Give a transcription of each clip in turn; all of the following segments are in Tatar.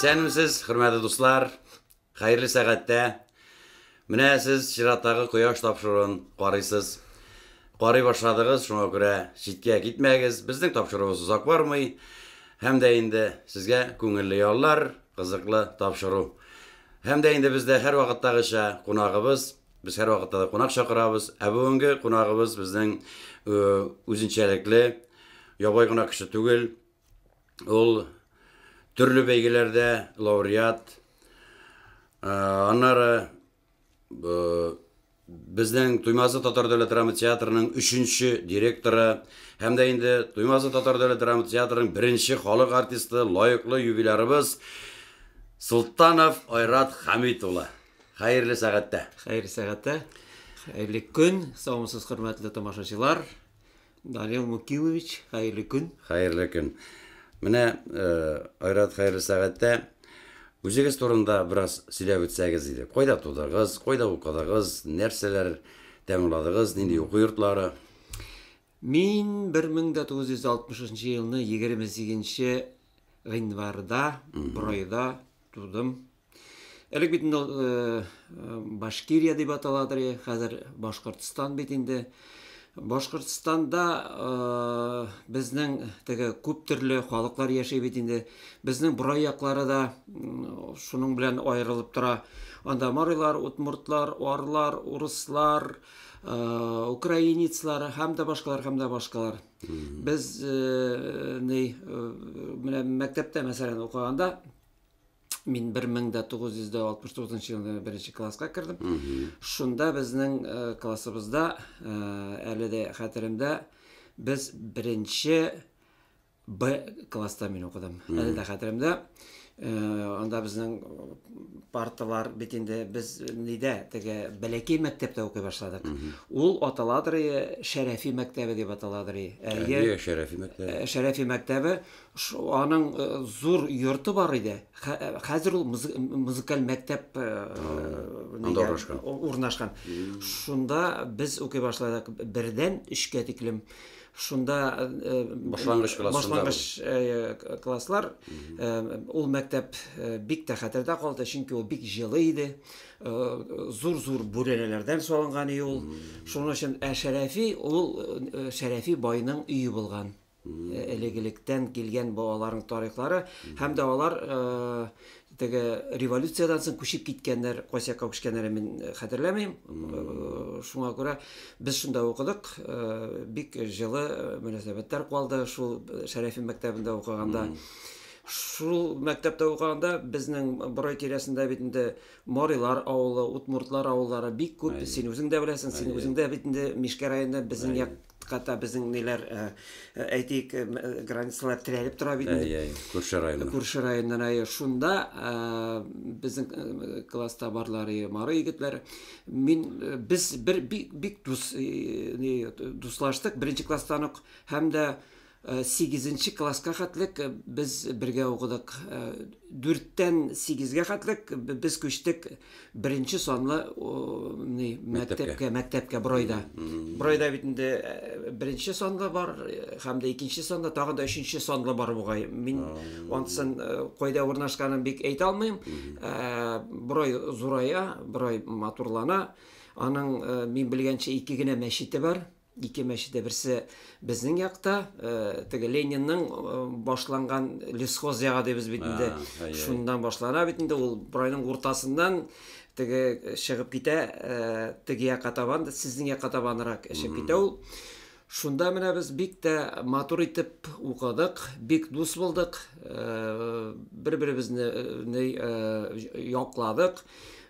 Исәнмесез, хөрмәтле дуслар. Хәерле сәгатьтә. Менә сез чираттагы кояш тапшыруын карыйсыз. Карый башладыгыз, шуңа күрә читкә китмәгез. Безнең тапшыруыбыз озак бармый. Һәм дә инде сезгә күңелле яллар, кызыклы тапшыру. Һәм дә инде бездә һәрвакыттагыча кунагыбыз Без һәрвакытта да кунак чакырабыз, ә бүгенге кунагыбыз безнең үзенчәлекле, ябай гына кеше түгел. Ул төрле бәйгеләрдә лауреат. Аннары безнең Туймазы татар дәүләт драма театрының өченче директоры һәм дә инде Туймазы татар дәүләт драма театрының беренче халык артисты, лаеклы юбилярыбыз Султанов Айрат Хәмит улы. Хәерле сәгатьтә. Хәерле сәгатьтә. Хәерле көн, саумсыз хөрмәтле тамашачылар. Данил Мукимович, хәерле көн. Хәерле көн. Менә э, Айрат хәерле сәгатьтә үзегез турында бераз сөйләп үтсәгез иде. Кайда тудыгыз, кайда укыдыгыз, нәрсәләр тәмамладыгыз, нинди уку йортлары? Мин 1963 елны 28 гыйнварда Бройда тудым. Элек бит инде э, э, Башкирия дип аталадыр, э, хәзер Башкортстан бит инде. Башкортстанда э, безнең теге күп төрле халыклар яши бит инде. Безнең бурай яклары да шуның белән аерылып тора. Анда марилар, утмуртлар, орлар, урыслар, э, украинецлар һәм дә башкалар һәм дә башкалар. Без э, ни э, мәктәптә мәсәлән укыганда мин 1969 елда беренче класска кердем. Шунда безнең э, классыбызда, э, әле дә хәтеремдә, без беренче Б класста мин укыдым. Әле дә хәтеремдә. Э, анда безнең парталар бит инде без нидә теге бәләкәй мәктәптә укый башладык. Ул аталадыр Шәрәфи мәктәбе дип аталадыр. Әйе, Шәрәфи мәктәбе. Шәрәфи мәктәбе Шул аның э, зур йорты бар иде. Хә- Хәзер ул музы- м- музыкаль мәктәп э, нигә- анда урнашкан. у- урнашкан. Шунда без укый башладык бердән өчкә тиклем. Шунда э, Башлангыч классында башлангыч э, к- класслар э, ул мәктәп э, бик тә хәтердә калды, чөнки ул бик җылы иде. Э, Зур-зур бүрәнәләрдән салынган ие ул. Шуның өчен ә Шәрәфи ул э, Шәрәфи байның өе булган. элек-электән килгән бу аларның тарихлары һәм дә алар теге революциядән соң күчеп киткәннәр кайсы якка күчкәннәрен мин хәтерләмим шуңа күрә без шунда укыдык бик җылы мөнәсәбәтләр калды шул шәрәфи мәктәбендә укыганда шул мәктәптә укыганда безнең борай тирәсендә бит инде марилар авылы удмуртлар авыллары бик күп син үзең дә беләсең син үзең дә бит инде мишкә районында безнең як Хәтта безнең ниләр э, э, әйтик э, границалар терәлеп тора бит инде. Әй, күрше районнан. Күрше районнан әй шунда безнең класста барлар и мары егетләр. Мин без бер бик бик дус дуслаштык беренче класстан ук һәм дә Сигезенче класска хәтлек без бергә укыдык. Дүрттән сигезгә хәтлек без күчтек беренче санлы мәктәпкә, мәктәпкә Бройда. Бройда бит инде беренче санлы бар, һәм дә икенче санлы, тагын да өченче санлы бар бугай. Мин ансын кайда урнашканын бик әйтә алмыйм. Брой зурая, Брой матурлана. Аның, мин белгәнчә, ике генә мәчете бар. Ике мәчет тә берсе безнең якта, э, теге Ленинның э, башланган лесхоз ягы дибез бит инде. А, ай, ай. Шуннан башлана бит инде ул Брайның уртасыннан теге чыгып китә, э, теге якка табан, да, сезнең якка табанрак чыгып китә ул. Шунда менә без бик тә матур итеп укыдык, бик дус булдык, э, бер-беребезне э, ни, э, ж- якладык.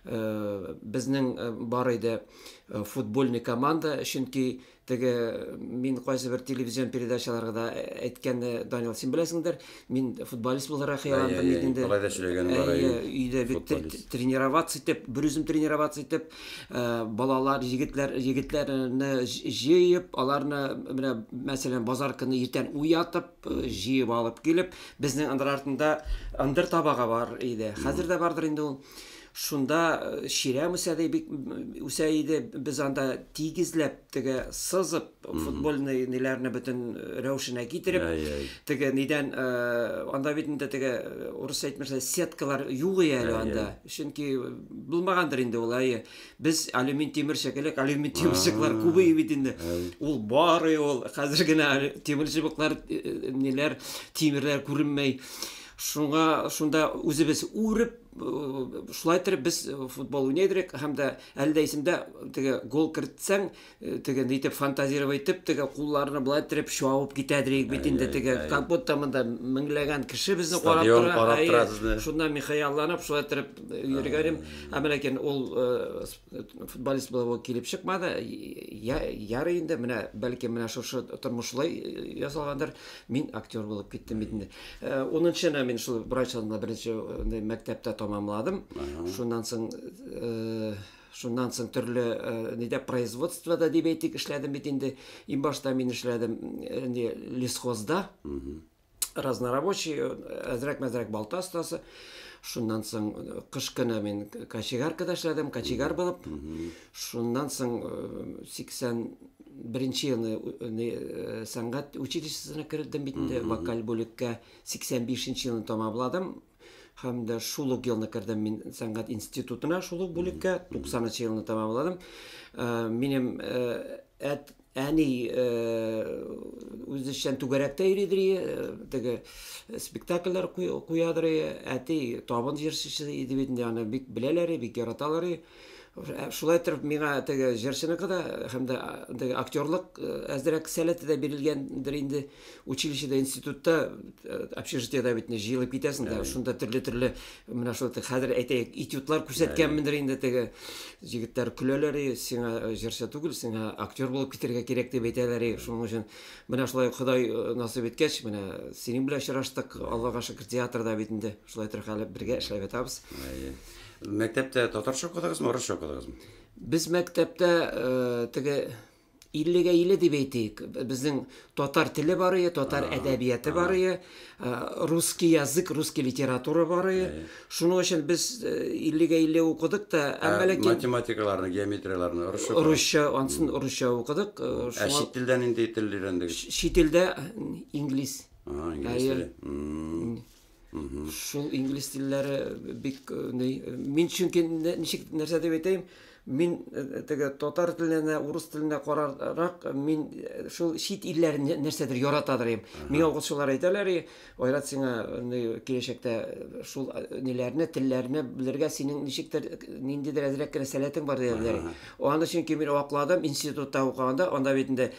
Э, Безнең э, бар иде Э, футбольный команда, чөнки теге мин кайсы бер телевизион передачаларда э, әйткәнне э, Данил син беләсеңдер, мин футболист буларак хыялландым бит инде. Алай да сөйләгән бар. Өйдә бит тренироваться итеп, бер үзем тренироваться итеп, балалар, егетләр, егетләрне җыеп, аларны менә мәсәлән базар көне иртән уятып, җыеп алып килеп, безнең андыр артында андыр табага бар иде. Хәзер дә бардыр инде ул. Шунда чирәм үсә дә бик үсә иде. Без анда тигезләп теге сызып футбольный ниләрне бөтен рәвешенә китереп теге нидән анда бит инде теге урыс әйтмешә сеткалар юк иде әле анда. Чөнки булмагандыр инде ул әйе. Без алюмин тимер шикелле алюмин тимерчеклар күп иде бит инде. Ул бар ул хәзер генә тимер чыбыклар ниләр тимерләр күренмәй. Шуңа шунда үзебез үреп, шулай итеп без футбол уйный идек һәм дә әле дә исемдә теге гол кертсәң, теге нитеп фантазировать итеп, теге кулларны былай итеп чуавып китә идек бит инде теге как будто монда меңләгән кеше безне карап тора. Шунда мин хыялланып шулай итеп йөргәнем. Ә менә кин ул футболист булып килеп чыкмады. Ярый инде менә бәлки менә шушы тормышлай ясалгандыр. Мин актер булып киттем бит инде. Э, унынчыны мин шул врач алдында беренче э, мәктәптә тамамладым. Шуннан соң э, шуннан соң төрле нидә производствода дип әйтик эшләдем бит инде. Иң башта мин эшләдем не лесхозда. Разнорабочий, әзрәк-мәзрәк балта остасы. Шуннан соң кыш көне мин кочегаркада эшләдем, кочегар булып. Шуннан соң 80 Беренче елны э, сәнгать училищесына кердем бит инде, вокаль бүлеккә 85 нче елны тәмамладым һәм дә шул ук елны кердем мин сәнгать институтына шул ук бүлеккә 90 нчы елны тәмамладым э, минем э, әт әни э, үзешчән түгәрәктә йөридер теге спектакльләр куядыр әти табын җырчысы иде бит инде аны бик беләләр бик яраталар Шулай иттереп миңа теге җырчыныкы да һәм дә теге актерлык әзрәк сәләте дә бирелгәндер инде. Училищеда, институтта, общежитиеда бит җыелып китәсең дә, шунда төрле-төрле менә шул хәзер әйтәйек, этюдлар күрсәткәнмендер инде теге. Җегетләр көләләр, и, сиңа җырчы түгел, сиңа актер булып китәргә кирәк дип әйтәләр, и, шуның өчен менә шулай Ходай насыйп иткәч, менә синең белән очраштык, Аллага шөкер, театрда бит инде шулай торып әле бергә эшләп ятабыз. Мәктәптә татарча укыдыгызмы, урысча укыдыгызмы? Без мәктәптә э, теге 50-гә 50 дип әйтик. Безнең татар теле бар иде, татар әдәбияты бар иде, э, русский язык, русский литература бар иде. Әйе. Шуның өчен без э, 50-гә 50 укыдык та, Ә әмма ләкин математикаларны, геометрияларны урысча укыдыгыз? русча, ансын русча укыдык. э, Ә Шуңа чит телдән нинди тел өйрәндегез? чит телдә э, инглиз. Ага, инглиз Әйе. теле. М. Шул инглиз телләре бик э, ни э, мин чөнки ничек нәрсә дип әйтәйем, мин э, теге татар теленә, урыс теленә карарак мин шул чит илләр нәрсәдер ярата дирем. Миңа укытучылар әйтәләр, Айрат сиңа ни киләчәктә шул ниләрне, телләрне белергә синең ничектер ниндидер әзрәк кенә сәләтең бар диләр. Аны чөнки мин акладым институтта укыганда, анда бит инде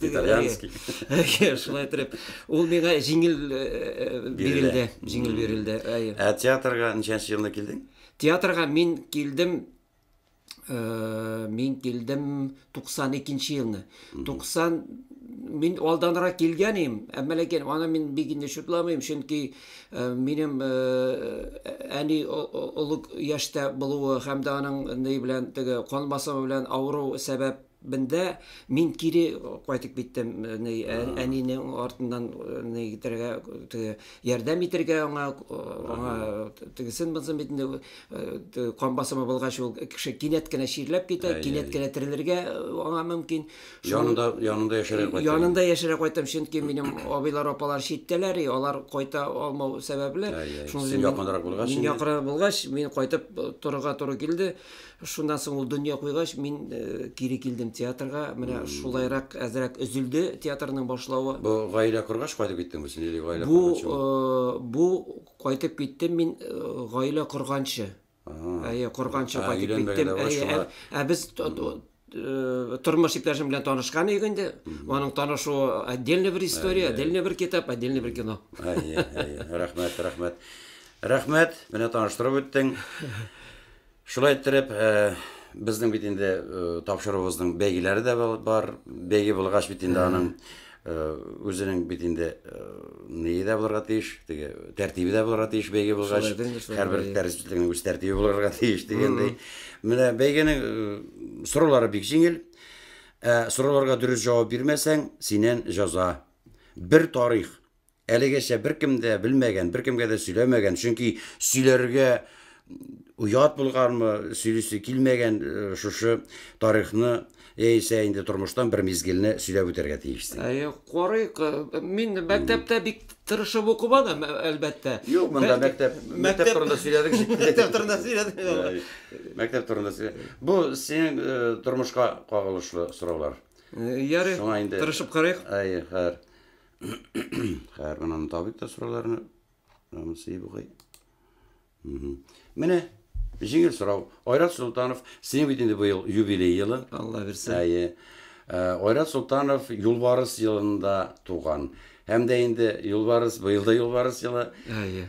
итальянский шулай итеп ул миңа җиңел э, э, бирелде җиңел бирелде ә театрга ничәнче елда килдең театрга мин килдем э, мин килдем 92 нче елны 90 мин алданрак килгән идем әмма ләкин аны мин бик инде шутламыйм чөнки э, минем э, әни олы яшьтә булуы һәм дә аның ни белән теге кан басымы белән авыру сәбәп Бендә мин кире кайтып киттем, ни, әнине артыннан ни итәргә, теге, ярдәм итәргә аңа, аңа тегесен булсын бит инде, кан басымы булгач ул кеше кинәт кенә чирләп китә, кинәт кенә терелергә аңа мөмкин. Янында, янында яшәргә кайтам. Янында яшәргә кайтам, чөнки минем абыйлар, апалар читтәләр, и алар кайта алмау сәбәпле, шуның өчен мин якынрак булгач, мин кайтып торырга туры килде. Шуннан соң ул дөнья куйгач, мин кире килдем театрга. Менә шулайрак әзрәк өзелде театрның башлавы. Бу гаилә коргач кайтып киттеңме син или гаилә корганчымы? Бу, бу кайтып киттем мин гаилә корганчы. Әйе, корганчы кайтып киттем. Әйе, ә без тормыш иптәшем белән танышкан идек инде. Аның танышуы отдельный бер история, отдельный бер китап, отдельный бер кино. Әйе, әйе. Рәхмәт, рәхмәт. Рәхмәт, менә таныштырып үттең. Шулай иттереп, безнең бит инде тапшыруыбызның бәйгеләре дә бар. Бәйге булгач бит инде аның үзенең бит инде ние дә булырга тиеш, теге тәртибе дә булырга тиеш бәйге булгач. Һәрбер тәрҗемәченең үз тәртибе булырга тиеш дигәндәй. Менә бәйгенең сораулары бик җиңел. Ә сорауларга дөрес җавап бирмәсәң, синен җәза. Бер тарих. Әлегәчә беркем дә белмәгән, беркемгә дә сөйләмәгән, чөнки сөйләргә уят булганмы, сөйлисе килмәгән э, шушы тарихны яисә инде тормыштан бер мизгелне сөйләп үтәргә тиешсең. Әйе, карыйк. Э, мин мәктәптә бик тырышып укымадым, ә- әлбәттә. Юк, монда Бәлки- мәктәп, мәктәп мәктәп- турында сөйләдек. җитте. Мәктәп турында сөйләдек. Әй, Мәктәп турында сөйлә. Бу синең э, тормышка кагылышлы сораулар. Э, Ярый, Шуңа инде- тырышып карыйк. Әйе, хәер. Хәер, гына табик та сорауларны. Намысы бугай. Менә җиңел сорау. Айрат Султанов, синең бит инде быел юбилей елы. Алла бирсә. Әйе. Э, Айрат Султанов Юлбарыс елында туган. Һәм дә инде Юлбарыс, быел да Юлбарыс елы. Әйе.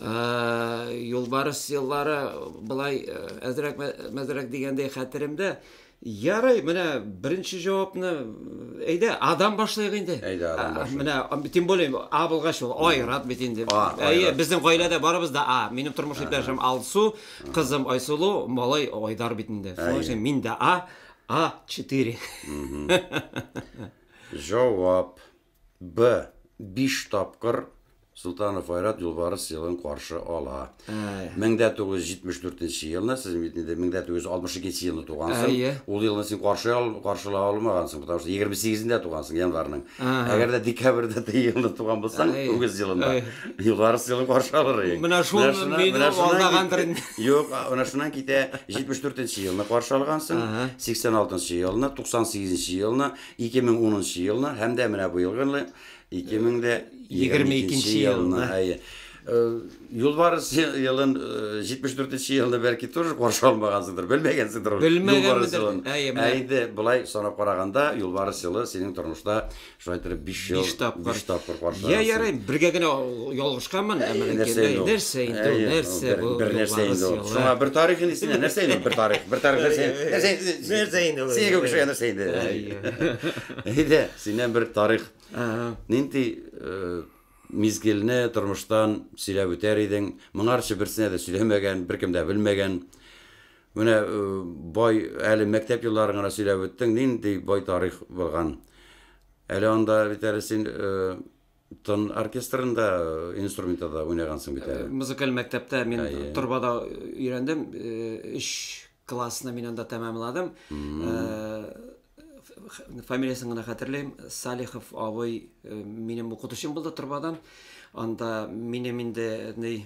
Юлбарыс еллары болай әзрәк-мәзрәк дигәндәй хәтеремдә. Ярый, менә беренче җавапны, әйдә, Адан башлыйк инде. Әйдә, Адан башлыйк. Менә, тем более, А булгач ул Айрат бит инде. Әйе, безнең гаиләдә барыбыз да А. Минем тормыш иптәшем Алсу, кызым Айсылу, малай Айдар бит инде. Шуның өчен мин дә А, А4. Җавап. Б. Биш тапкыр Солтанов Айрат Юлбарыс елын каршы ала. Әй. 1974 елны, сез бит инде 1962 елны тугансың. Әйе. Ул елны син каршы ал, каршыла алмагансың, потому что 28-ндә тугансың январьның. Ага. Әгәр дә декабрьдә тә елны туган булсаң, Әйе. үгез елында, Әйе. Юлбарыс елын каршы алыр идең. Менә шул Менә шуннан- мине менә шуннан алдагандыр кит- инде. Юк, а, менә шуннан китә 74 елны каршы алгансың, Ага. 86 елны, 98 елны, 2010 елны һәм дә менә быел гынлы 2022 елны. Әйе. Юлбарыс елын 74 елны бәлки тоже каршы алмагансыңдыр, белмәгәнсеңдер. Юлбарыс елын. Әйе, болай санап караганда, Юлбарыс елы синең тормышта шулай итеп 5 ел, 5 тапкыр каршы. Я ярый, бергә генә Ялгышканмын, ә менә кирдәй, нәрсә инде ул, нәрсә бу? Бер нәрсә инде ул. Шуңа бер тарих инде сиңа, нәрсә инде бер тарих? Бер тарих нәрсә инде? Нәрсә инде? Нәрсә инде ул? Сиңа кеше нәрсә инде? Әйдә, синнән бер тарих. Нинди мизгелне тормыштан сөйләп үтәр идең? Моңарчы берсенә дә сөйләмәгән, беркем дә белмәгән. Менә бай әле мәктәп елларын гына сөйләп үттең, нинди бай тарих булган. Әле анда бит әле син Тон оркестрында инструментта да уйнагансың бит әле. Музыкаль мәктәптә мин торбада өйрәндем. Өч классны мин анда тәмамладым. Фамилиясен генә хәтерлим. Салихов абый минем укытучым булды торбадан. Анда минем инде ни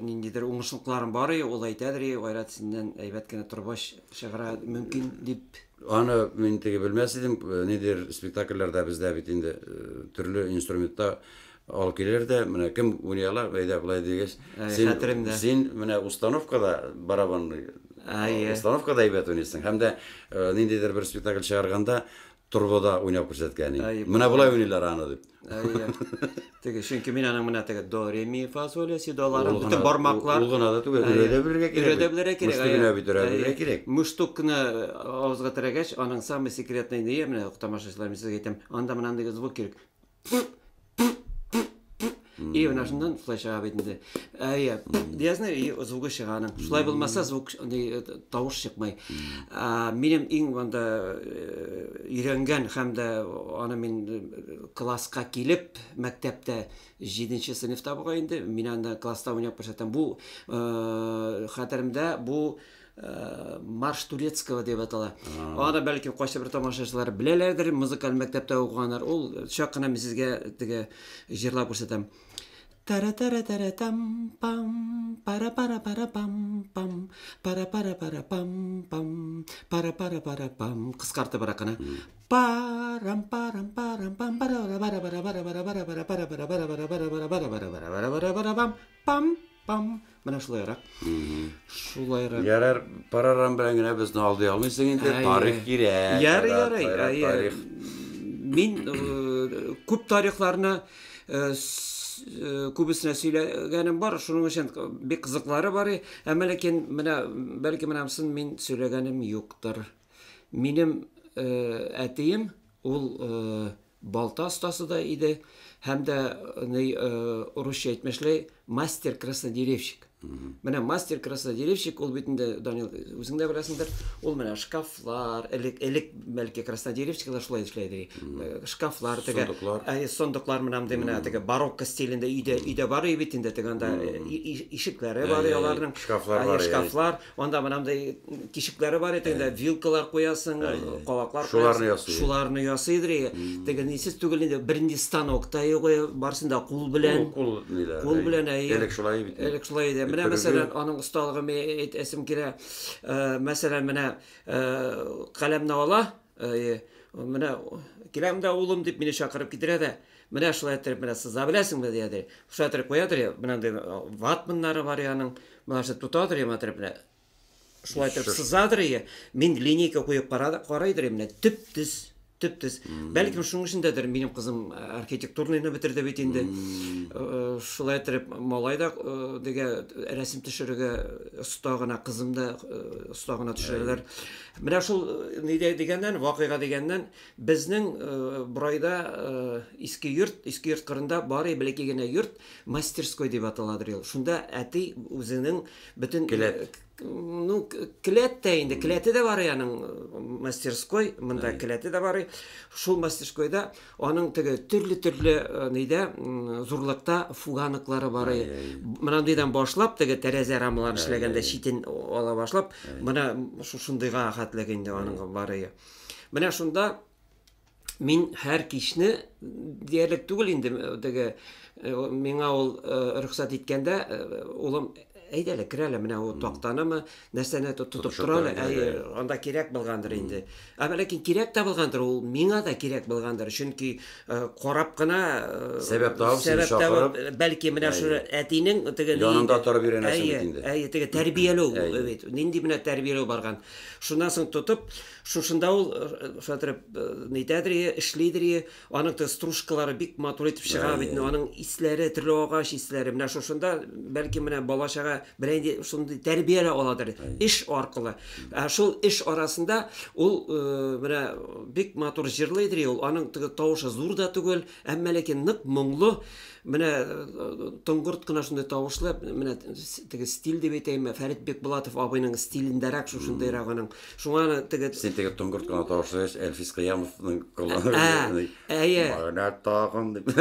ниндидер уңышлыкларым бар иде, ул әйтәдер, Айрат, синнән әйбәт кенә торбач чыгара мөмкин дип Аны мин теге белмәс идем, нидер спектакльләрдә бездә бит инде төрле инструментта ал килер дә, менә кем уйный ала, әйдә болай дигәч, син, син менә установкада барабанный, установкада әйбәт уйныйсың, һәм дә ниндидер бер спектакль чыгарганда торбада уйнап күрсәткән идең. Менә болай уйныйлар аны дип. Әйе. Теге чөнки мин аның менә теге до ре ми фа соль ля си доларын бөтен бармаклар. Ул гына да түгел, өйрә дә белергә кирәк. Өйрә дә белергә кирәк. Мөштүк генә бит өйрә белергә кирәк. Мөштүк кенә э, авызга терәгәч, аның самый секретный ни менә тамашачылар мин сезгә әйтәм, анда менә андый звук кирәк. И менә шуннан шулай чыга бит инде. Әйе. Диязне и звугы чыга аның. Шулай булмаса звук ни э, тавыш чыкмый. А, минем иң монда э, өйрәнгән һәм дә аны мин э, класска килеп, мәктәптә 7 нче сыйныфта буга инде, мин анда класста уйнап күрсәтәм. Бу э, хәтеремдә бу э, марш турецкого дип атала. Аны бәлки кайсы бер тамашачылар беләләрдер, музыкаль мәктәптә укыганнар. Ул чак кына мин сезгә теге җырлап күрсәтәм. Тара-тара-тара-там-пам, пара-пара-пара-пам-пам, пара-пара-пара-пам-пам, пара-пара-пара-пам. Кыскартыбрак кына. Парам-парам-парам-пам, пара-пара-пара-пара-пара-пара-пара-пара-пара-пара-пара-пара-пара-пара-пара-пара-пара-пара-пара-пам. Пам, менә шулайрак. Шулайрак. Ярар, парарам белән генә безне алдый алмыйсың инде, тарих кирәк. Ярый, ярый, ярый. Мин э, күп тарихларны э, э, күбесенә сөйләгәнем бар, шуның өчен бик кызыклары бар, әмма ләкин менә бәлки менә сын мин сөйләгәнем юктыр. Минем әтием ул балта остасы да иде һәм дә ни урысча әйтмешли мастер краснодеревщик менә мастер краснодеревщик ул бит инде данил үзең дә беләсеңдер ул менә шкафлар элек элек бәлки краснодеревщиклар шулай эшләй иде э, шкафлар теге э, сондыклар менә мондый менә теге барокко стилендә өйдә өйдә бар бит инде теге анда э, ишекләре бар аларның шкафлар бар шкафлар Анда монандай тишекләре бар иде, ә. вилкалар куясың, кабаклар шуларны ясый. Шуларны ясый идри. Теге нисез түгел инде, бернинди станок та юк, барсында кул белән. Кул ниләр? Кул белән әйе. Элек шулай бит. Элек шулай иде. Менә мәсәлән, аның осталыгы ме әйтәсем килә. Мәсәлән, менә каләмне ала, әйе. Менә киләм дә улым дип мине чакырып китерә дә. Менә шулай иттереп менә сыза беләсеңме, дия ди. Шулай иттереп куя ди, менә андый ватманнары бар яның. Менә шулай тота ди, менә иттереп менә. Шулай иттереп сыза ди. Мин линейка куеп карады, карый ди, менә төп-төз, төп-төз. Бәлкем шуның өчен дәдер, минем кызым архитектурныйны бетерде бит инде. Шулай иттереп малай да дигә рәсем төшерергә оста гына, кызым да оста гына төшерәләр. Менә шул нидә дигәннән, вакыйга дигәннән, Безнең Брайда иске йорт, иске йорт кырында бары бәләкәй генә йорт, мастерской дип аталадыр ул. Шунда әти үзенең бөтен Келәт. Ну, келәт тә инде, келәте дә бар яның мастерской, монда келәте дә бар. Шул мастерскойда аның теге төрле-төрле нидә зурлыкта фуганыклары бар. Монандыйдан башлап, теге тәрәзә рамаларын эшләгәндә читен ала башлап, менә шушындыйга хәтле инде аның бар. Менә шунда мин һәр кичне диярлек түгел инде теге миңа ул рөхсәт иткәндә улым әйдә әле керә әле менә ул тактанымы нәрсәне тотып тора әле әйе анда кирәк булгандыр инде ә ләкин кирәк тә булгандыр ул миңа да кирәк булгандыр чөнки карап кына сәбәп табып сәбәп табып бәлки менә шул әтинең теге янында торып өйрәнәсең бит инде әйе теге тәрбияләү бит нинди менә тәрбияләү барган Шуннан соң тотып, шушында ул шулай нитәдер, эшлидер, аның да стружкалары бик матур итеп чыга бит, аның исләре, төрле агач исләре. Менә шушында бәлки менә балачага белән инде шундый тәрбия дә аладыр, эш аркылы. Ә шул эш арасында ул менә бик матур җырлыйдыр, ул аның теге тавышы зур да түгел, Әмма ләкин нык моңлы, менә э, тоңгырт кына шундый тавышлы, менә теге стиль дип әйтәйме, Фәрит Бекбулатов абыйның стилендәрәк шушындыйрак аның. Шуңа аны теге Син теге тоңгырт кына тавышлы Әлфис Кыямовның кулланып. Ә, әйе. Менә тагын дип.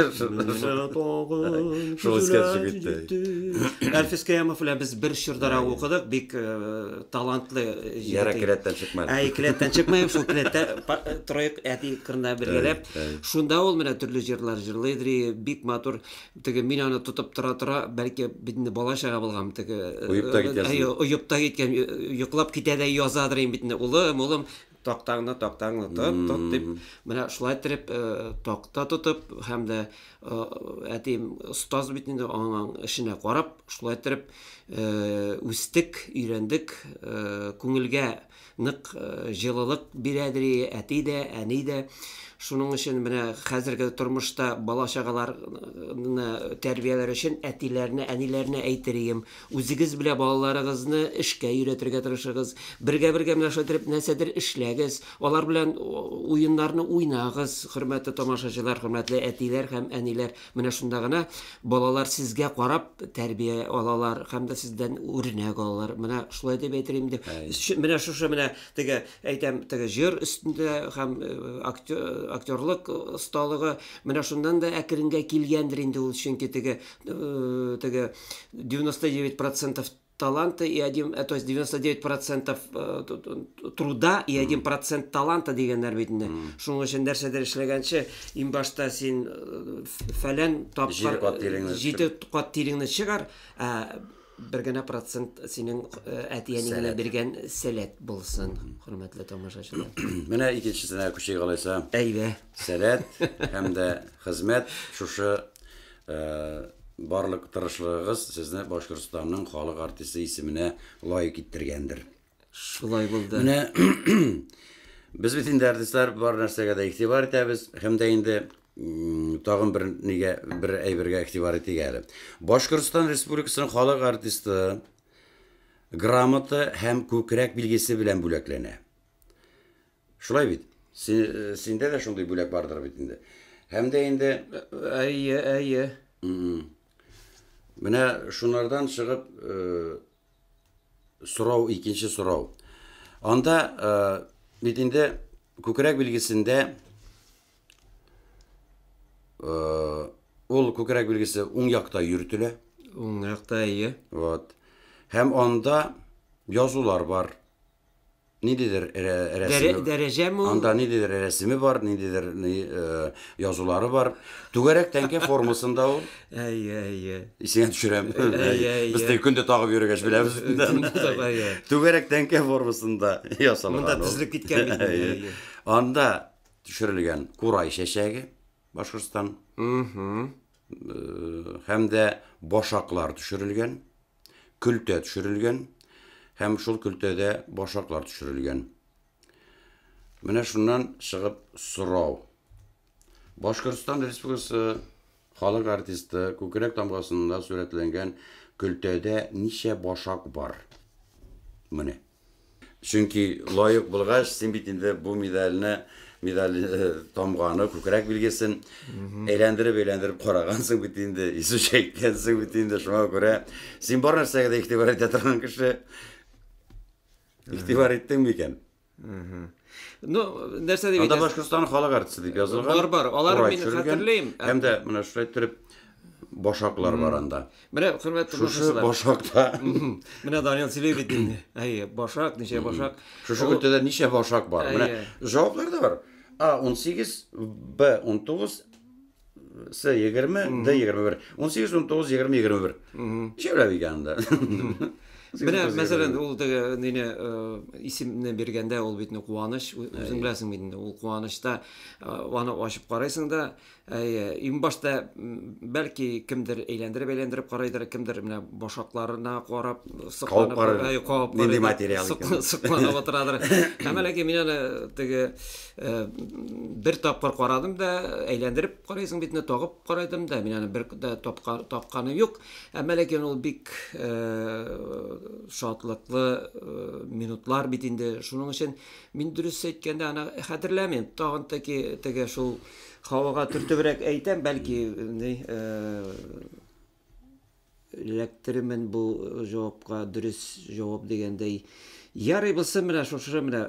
Шул искәнче китте. Әлфис Кыямов белән без бер чордара укыдык, бик э, талантлы егет. Яра келәттән чыкмады. Әй, келәттән чыкмаем, шул келәттә троек әти кырында бергәләп. Шунда ул менә төрле җырлар җырлый дри, бик матур. Теге мин аны тотып тора тора, бәлки битне бала чага булган теге. Уйыпта киткән. Әй, уйыпта киткән, йоклап китә дә язадыр инде битне. Улым, улым, тактаңны, тактаңны тот, тот дип. Менә шулай итеп такта тотып һәм дә әтием остаз бит инде аның эшенә карап, шулай итеп үстек, өйрәндек, күңелгә Нык җылылык бирә, ди әти дә, әни дә. Шуның өчен менә хәзерге тормышта бала-чагаларны тәрбияләр өчен әтиләренә, әниләренә әйтер ием, үзегез белә балаларыгызны эшкә өйрәтергә тырышыгыз. Бергә-бергә менә шулай итеп нәрсәдер эшләгез, алар белән уеннарны уйнагыз, хөрмәтле тамашачылар, хөрмәтле әтиләр һәм әниләр. Менә шунда гына балалар сезгә карап тәрбия алалар һәм дә сездән үрнәк алалар. Менә шулай дип әйтер инде. Менә шушы менә теге әйтәм, теге җыр өстендә һәм э, актерлык осталыгы менә шуннан да әкренгә килгәндер инде ул, чөнки теге э, теге 99% таланта и один э, то есть 99 процентов э, труда и один процент таланта дигәннәр бит инде шуның өчен нәрсәдер эшләгәнче иң башта син э, фәлән тапкыр җиде кат тиреңне чыгар ә бер генә процент синең әтиәнең генә биргән сәләт булсын хөрмәтле тамашачылар менә икенчесенә күчик алайса әйдә сәләт һәм дә хезмәт шушы Барлык тырышлыгыгыз сезне Башкортстанның халык артисты исеменә лаек иттергәндер. Шулай булды. Менә без бит инде артистлар бар нәрсәгә дә игътибар итәбез һәм дә инде тагын бер нигә бер әйбергә игътибар итик әле. Башкортстан Республикасының халык артисты грамота һәм күкрәк билгесе белән бүләкләнә. Шулай бит? Син, э, синдә дә шундый бүләк бардыр бит инде. Һәм дә инде Әйе, әйе. м, менә шунардан чыгып э, сорау, икенче сорау. Анда э, бит инде күкрәк билгесендә э, ул күкрәк билгесе уң якта йөртелә. Уң якта әйе. Вот. Һәм анда язулар бар. Ниндидер рәсеме. Дәрәҗәме ул? Анда ниндидер рәсеме бар, ниндидер язулары бар. Түгәрәк тәңкә формасында ул. Әйе, әйе. Исеңә төшерәм. Әйе, әйе. Без тел көндә тагып йөргәч беләбез. Түгәрәк тәңкә формасында ясалган. Монда тезелеп киткән бит. Әйе. Анда төшерелгән курай чәчәге Башкортстан. Һәм дә башаклар төшерелгән. көлтә төшерелгән һәм шул көлтәдә башаклар төшерелгән. Менә шуннан чыгып сорау. Башкортстан Республикасы халык артисты күкрәк тамгасында сурәтләнгән көлтәдә ничә башак бар? Менә. Чөнки лаек булгач, син бит инде бу медальне медаль э, тамганы, күкрәк билгесен әйләндереп-әйләндереп карагансың бит инде, исе чәйткәнсең бит инде, шуңа күрә син бар нәрсәгә дә игътибар итә торган кеше. Игътибар иттеңме икән? Ну, нәрсә дип Анда Башкортстан халык артисты дип язылган. Бар, бар. Алар мин хәтерлим. Һәм дә менә шулай торып башаклар бар анда. Менә хөрмәтле Шушы башакта. Менә Данил сөйли бит инде. Әйе, башак, ничә башак. Шушы өлкәдә ничә башак бар? Менә җаваплар да бар. А 18, Б 19, С 20, Д 21. 18, 19, 20, 21. Җәүләп икән анда. Менә мәсәлән, ул теге нине э, исемне биргәндә ул бит куаныч, үзең беләсең бит инде, ул куанычта э, аны ачып карыйсың да, Иң башта бәлки кемдер әйләндереп-әйләндереп карайдыр, кемдер менә башакларына карап сыкланып, кабып нинди материал икән. Сыкланып утырадыр. Һәм әлеге мин аны теге бер тапкыр карадым да, әйләндереп карыйсың битне тагып карадым да, мин аны бер дә тапкан тапканы юк. Әмма ләкин ул бик шатлыклы минутлар бит инде. Шуның өчен мин дөрес әйткәндә аны хәтерләмим. Тагын теге шул Һавага төртебрәк әйтәм, бәлки ни эләктеремен бу җавапка дөрес җавап дигәндәй. Ярый булсын менә шушы менә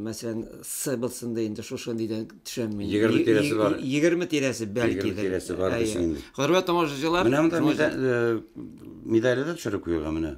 мәсәлән С булсын да инде шушы нидән төшәм мин. 20 тирәсе бар. 20 тирәсе бәлки. 20 тирәсе бар дисең инде. Хөрмәт тамашачылар. Менә монда медале дә төшереп куелган менә.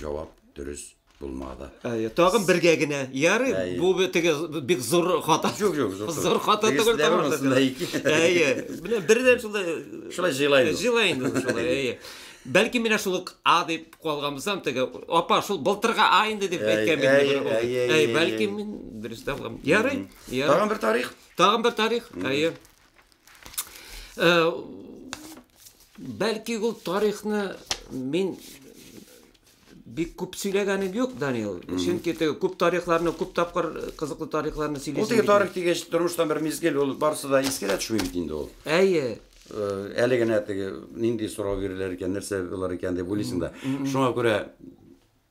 җавап дөрес булмады. Әйе, тагын бергә генә. Ярый, бу теге бик зур хата. Юк, юк, зур. Зур хата түгел тагын. Әйе. Менә бердән шулай э, шулай җыйлай. Җыйлай инде шулай, әйе. Бәлки менә шул А дип калганбыздан теге апа шул былтырга А инде дип әйткән бит. Әйе, әйе. Бәлки мин дөрес табам. Ярый. Тагын бер тарих. Тагын бер тарих. Әйе. Э, бәлки ул тарихны мин бик күп сөйләгәнем юк, Данил. Чөнки теге күп тарихларны, күп тапкыр кызыклы тарихларны сөйлисең. Ул теге тарих дигәч, тормыштан бер мизгел ул барсы да искә дә төшми бит инде ул. Әйе. Э, әле генә теге нинди сорау бирелер икән, нәрсә булыр икән дип уйлыйсың да. Шуңа күрә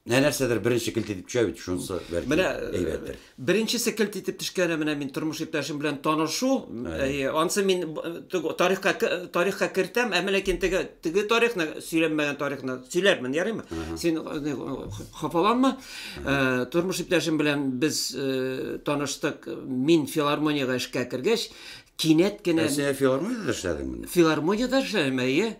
Менә нәрсәдер беренче келт итеп төшә бит, шунысы бәлки Менә әйбәттер. Беренчесе келт итеп төшкәне менә мин тормыш иптәшем белән танышу, ансы мин тарихка тарихка кертәм, ә ләкин теге теге тарихны сөйләмәгән тарихны сөйләрмен, ярыймы? Син хафаланма. Тормыш иптәшем белән без таныштык. Мин филармониягә эшкә кергәч, кинәт кенә Син филармониядә эшләдеңме? Филармониядә эшләдем, әйе.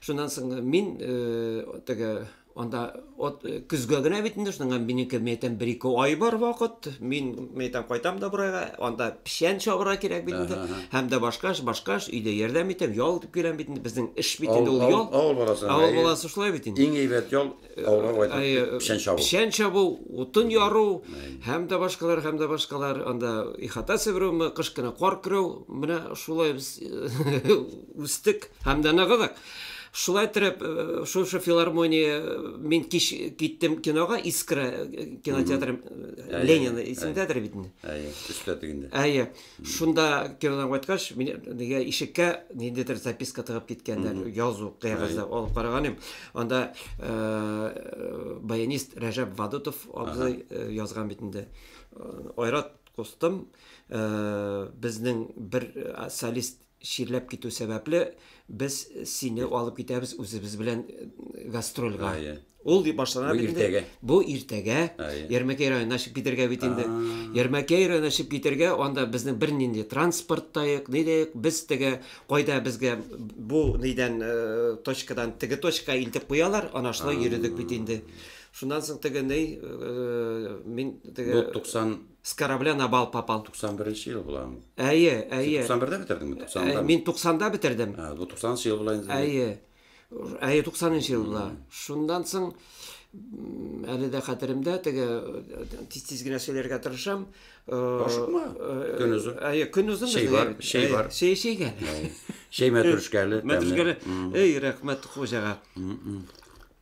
Шуннан соң мин теге анда от көзгә генә бит инде шуның минеке мәйтәм бер ике ай бар вакыт мин мәйтәм кайтам да бурайга анда печән чабырга кирәк бит инде һәм дә башка эш башка эш өйдә ярдәм итәм ял итеп киләм бит инде безнең эш бит инде ул ял авыл баласы авыл баласы шулай бит инде иң әйбәт ял печән чабу печән чабу утын яру һәм дә башкалар һәм дә башкалар анда ихата себерүме кыш кына кар көрәү менә шулай без үстек һәм дә ныгыдык шулай итеп шушы филармония мин кич киттем кинога искра кинотеатры ленин исемдәдер бит инде әйе өстә тегендә әйе Шунда кинодан кайткач, мин нигә ишеккә ниндидер записка тыгып киткәннәр, язу кәгазьдә алып караган идем. Анда э, баянист Рәҗәп Вадутов абзый э, язган бит инде. Э, Айрат кустым, э, безнең бер э, солист чирләп китү сәбәпле, без сине алып китәбез үзебез белән э, гастрольга. Ул дип башлана бит инде. Бу иртәгә Ярмәкәй районына чыгып китергә бит инде. Ярмәкәй районына чыгып китергә, анда безнең бернинди транспорт та юк, ни дә юк. Без теге кайда безгә бу нидән э, точкадан теге точка илтеп куялар, ана шулай йөридек бит инде. Шуннан соң теге ни, э, мин теге 90 С корабля на бал попал. 91 нче ел була ул. Әйе, әйе. Син 91-дә бетердеңме? 90-да? Э, мин 90-да бетердем. Ә, бу 90 нчы ел була инде. Әйе. Әйе, 90 нчы ел була. Шуннан соң әле дә хәтеремдә теге тиз-тиз генә сөйләргә тырышам. Ашыкма. Көнөз. Әйе, көнөз. Шәй бар, шәй бар. Шәй шәйгә. Шәй мәтрүшкәле. Мәтрүшкәле. Эй, рәхмәт хуҗага.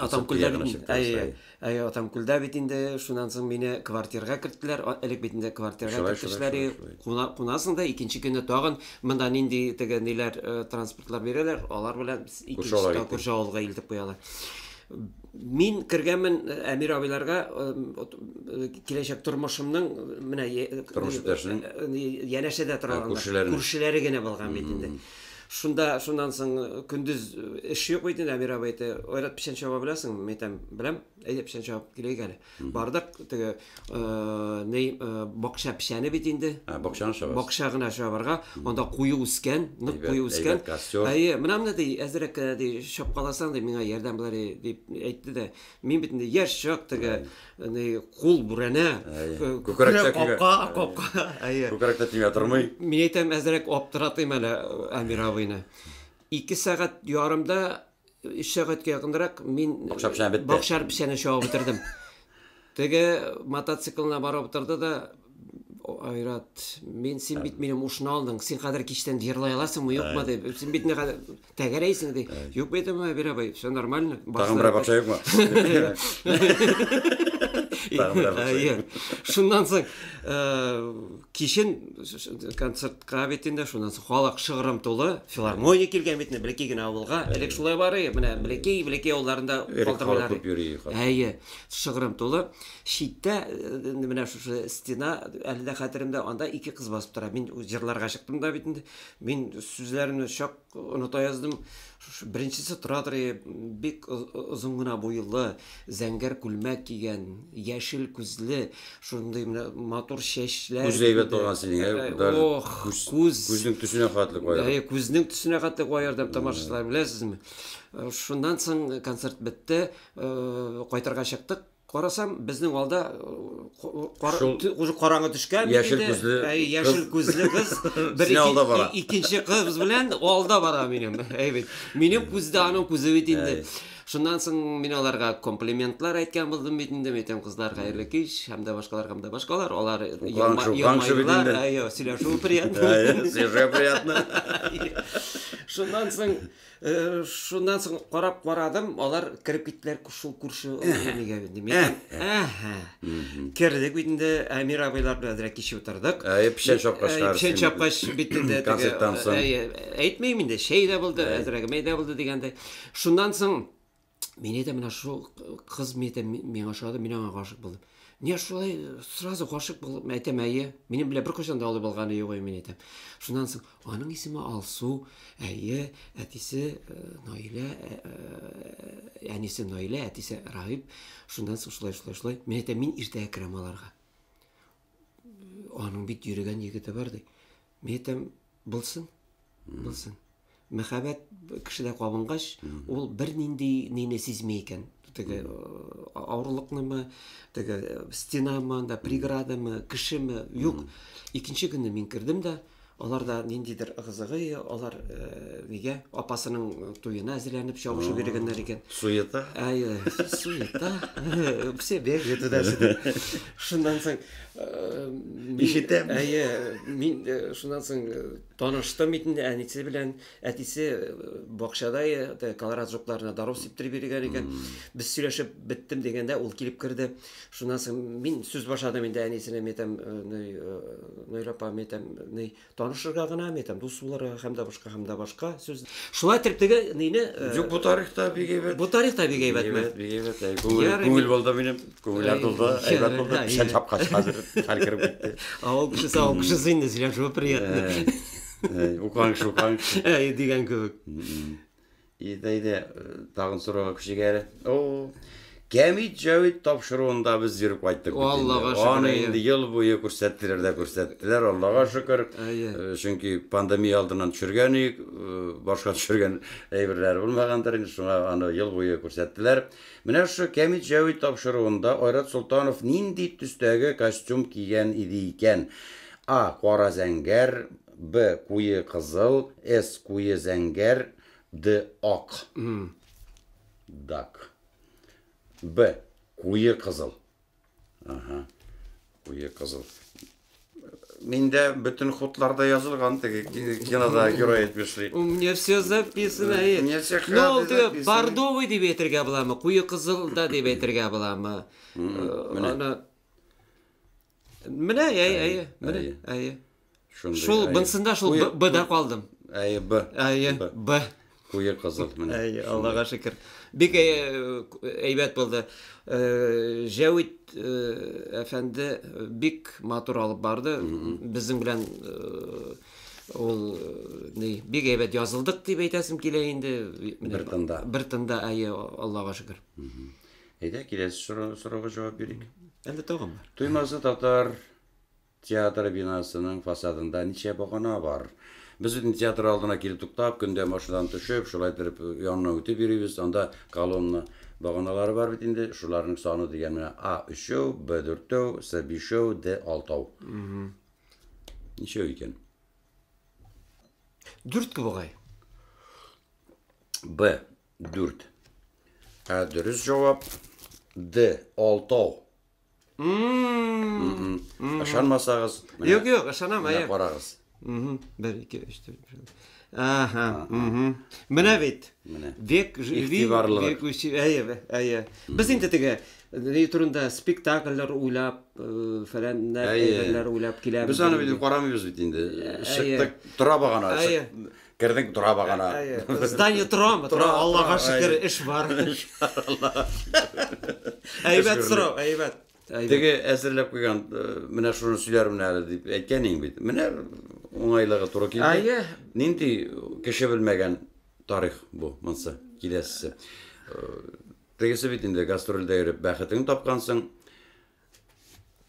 Атамкүлдә бит әйе, әйе, Атамкүлдә бит инде шуннан соң мине квартирга керттеләр. Элек бит инде квартирга керттеләр. Кунасың да икенче көнне тагын монда нинди теге ниләр э, транспортлар бирәләр, алар белән икенче күрше авылга илтеп куялар. Мин кергәнмен э, Әмир абыйларга э, киләчәк тормышымның менә тормыш иптәшенең янәшәдә тора күршеләре генә булган бит инде. Шунда, шуннан соң э, көндез э, эш юк бит инде, Әмир абый әйтте, Айрат печән чаба беләсеңме? Мин әйтәм, беләм. Әйдә печән чабып киләйек әле. Бардык, теге э, ни, э, бакча печәне бит инде. Ә, бакчаны шабасыз. Бакча гына чабарга, анда куе үскән, нык Әйбәт, куе үскән. әйбәт костер. Әйе, менә менә ди, әзрәк кенә ди, чапкаласаң ди, миңа ярдәм була ди, дип әйтте дә. Мин бит инде яшь чак теге Әне кул бүрәнә. Күкрәк капка, капка. Әйе. Күкрәктә тимә тормый. Мин әйтәм, әзрәк аптыратыйм әле Амир абыйны. Ике сәгать ярымда, өч сәгатькә якынрак мин бакчар печәне чабып бетердем. Теге мотоциклына барып утырды да, Айрат, мин син бит минем ушны алдың, син хәзер кичтән җырлай аласыңмы, юкмы дип. Син бит Тәгәрәйсең ди. Юк бит аңа Әбир абый, все нормально. Тагын берәр патша юкмы? Шуннан соң кичен концертка бит инде, шуннан соң халык шыгрым тулы, филармония килгән бит инде, блекей генә авылга. Элек шулай бары, менә блекей, блекей авылларында калтырмыйлар. Күп йөри. Әйе, шыгрым тулы. Читтә менә шушы стена әле дә хәтеремдә, анда ике кыз басып тора. Мин җырларга чыктым да бит инде. Мин сүзләрне чак оныта яздым. Шушы беренчесе Туратор бик озын гына буйлы, зәңгәр күлмәк кигән, яшел күзле, шундый менә матур чәчләр. Күз әйбәт булган синең, ә? Э, даже Ох, күз- күз. Күзнең төсенә хәтле кая. Әйе, күзнең төсенә хәтле куа ярдәм тамашачылар, беләсезме? Э, Шуннан соң концерт бетте, э, кайтырга чыктык. Карасам, безнең алда уже караңгы төшкән яшел күзле яшел күзле кыз бер икенче кыз белән алда бара минем. Әйбит. Минем күз дә аның күзе бит инде. Шуннан соң мин аларга комплиментлар әйткән булдым бит инде. Мин әйтәм, кызлар, хәерле кич, һәм дә башкалар, һәм дә башкалар. Алар елмайлар, сөйләшү приятно. Сөйләшү приятно. Шуннан соң Э, шуннан соң карап карадым, алар кереп киттеләр шул күрше әнигә инде. Мин әһә. Кердек бит инде Әмир абыйлар белән дә кичә утырдык. Әй, печән чапкач карасың. Печән чапкач бит инде теге. Әйтмим инде, шәй дә булды, әзрәгемәй дә булды дигәндәй. Шуннан соң Мин әйтәм, менә шул кыз мин әйтәм, миңа ошады, мин аңа гашык булдым. Не шулай сразу гашык булып, мин әйтәм, әйе. Минем белән бер кайчан да алып алганы юк мин әйтәм. Шуннан соң аның исеме Алсу, әйе, әтисе э, Наилә, э, э, әнисе Наилә, әтисе Раһиб. Шуннан соң шулай, шулай, шулай. Мин әйтәм, мин иртә керәм аларга. Аның бит йөрегән егете бар ди. Мин әйтәм, Булсын. Булсын. Мәхәббәт кешедә кабынгач, ул бернинди нине сизми икән. Теге э, авырлыкнымы, теге э, стенамы, анда преградамы, кешеме, юк. Икенче көнне мин кердем дә, алар да ниндидер ыгы-зыгы, алар э, нигә апасының туена әзерләнеп чабышып йөргәннәр икән. Суета. Әйе, суета. Все бегают туда-сюда. Шуннан соң Ишетәм. Әйе, мин шуннан соң таныштым бит инде әнисе белән. Әтисе бакчада колорад жукларына даров сиптиреп йөргән икән. Без сөйләшеп беттем дигәндә, ул килеп керде. Шуннан соң мин сүз башладым инде әнисенә, мәйтәм, ней, ней, апа, мәйтәм, ней, Танышырга гына ме, там, дус булырга һәм дә башка, һәм дә башка сүз. Шулай итеп теге нине. Юк, бу тарих та бик әйбәт. Бу тарих та бик әйбәт. Әйбәт, бик әйбәт. Күңел, күңел булды минем. Күңелләр тулды, әйбәт булды. Печән чапкач хәзер хәл кереп китте. Авыл кешесе, авыл кешесе инде сөйләшүе приятный. Укыган кеше, укыган кеше. Әй, дигән кебек. Әйдә, әйдә, тагын сорауга күчик әле. О, Кәмит Җәвит тапшыруында без йөреп кайттык бит Аллага инде. шөкер, Аны әйе. инде ел буе күрсәттеләр дә күрсәттеләр, Аллага шөкер. Әйе. Э, Чөнки пандемия алдыннан төшергән идек, э, башка төшергән әйберләре булмагандыр инде, шуңа аны ел буе күрсәттеләр. Менә шушы Кәмит Җәвит тапшыруында Айрат Солтанов нинди төстәге костюм кигән иде икән? А. Кара зәңгәр, Б куе кызыл, С куе зәңгәр, Д ак. Дак. Б куе кызыл. Ага. Куе кызыл. Миндә бөтен хутларда язылган теге кинода герой әйтеп эшли. У меня все записано. Э, мне все Ну, ул хаты теге записаны. бордовый дип әйтергә буламы? Куе кызыл да дип әйтергә буламы? Э, Менә. Аны Менә, әйе, әйе, менә, әйе. Шул, бынсында шул Б да калдым. Әйе, Б. Әйе, Б. Куе кызыл менә. Әйе, Аллага шөкер. Бик әйбәт булды. Җәвит әфәнде бик матур алып барды. Безнең белән ул ни бик әйбәт язылдык дип әйтәсем килә инде. Бер тында. Бер тында, әйе, Аллага шөкер. Әйдә, киләсе сорау- сорауга җавап бирик. Әллә тагын бар? Туймазы татар театры бинасының фасадында ничә багана бар? Без бит инде театр алдына килеп туктап, көндә машинадан төшеп, шулай итеп янына үтеп йөрибез. Анда колонна баганалары бар бит инде. Шуларның саны дигән менә А өчәү, Б дүртәү, С бишәү, Д алтау. Ничәү икән? Дүрт бугай. Б 4. Ә дөрес җавап Д. Алтау. Ышанмасагыз, менә Юк, юк, ышанам, менә әйе. карагыз. Мгм. Бер, ике, өч, дүрт, биш. Ага. мгм. Менә бит. Менә. Век живи, Игътибарлылык. век учи. Әйе, бе, әйе. Без инде теге ни турында спектакльләр уйлап, э, фәләннәр, Әйе. әйберләр уйлап киләбез. Без аны бит карамыйбыз бит инде. Чыктык, тора багана. Әйе. Чык- Кердең тора багана. Здание торам, тора, Аллага шөкер, эш бар. Аллага шөкер. Әйбәт сорау, әйбәт. Теге әзерләп куйган, э, менә шуны сөйләрмен әле дип әйткән иң бит. Менә уңайлыгы туры килде. Әйе. Нинди кеше белмәгән тарих бу монсы киләсе. Э, тегесе бит инде гастрольдә йөреп бәхетен тапкансың.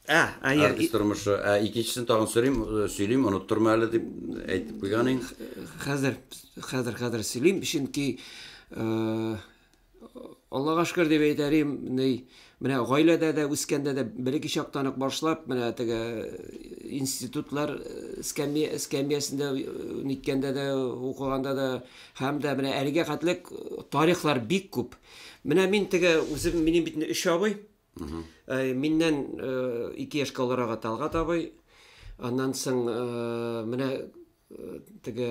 Ә, ә яр... Артист тормышы. Ә икенчесен тагын сөйлим, сөйлим, оныттырма әле дип әйтеп куйган ин. Хәзер, хәзер, хәзер сөйлим, чөнки э, Аллага шөкер дип әйтәрим, ни, менә гаиләдә дә үскәндә дә береки чактан ук башлап, менә теге институтлар эскәмия эскәмиясендә ниткәндә дә укыганда да һәм дә менә әлегә хәтлек тарихлар бик күп. Менә мин теге үзем минем бит өч абый, Э, миннән э, ике яшкә олырагы талгат абый аннан соң э, менә теге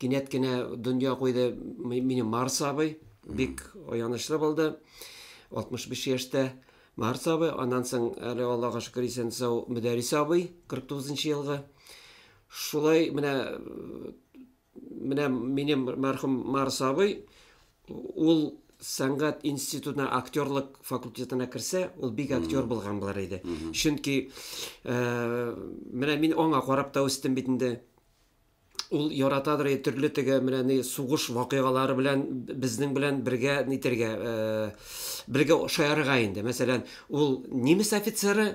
кинәт кенә дөнья куйды мине марс абый бик аянычлы булды 65 яшьтә марс абый аннан соң әле аллага шөкер исән сау мөдәрис абый 49 елгы шулай менә Менә минем мәрхүм Марс абый, ул сәнгать институтына актерлык факультетына керсә, ул бик актер булган булар иде. Чөнки э, менә мин аңа карап та үстем бит инде. Ул яратадыр иде төрле теге менә ни сугыш вакыйгалары белән безнең белән бергә нитергә, э, бергә шаярырга инде. Мәсәлән, ул немец офицеры,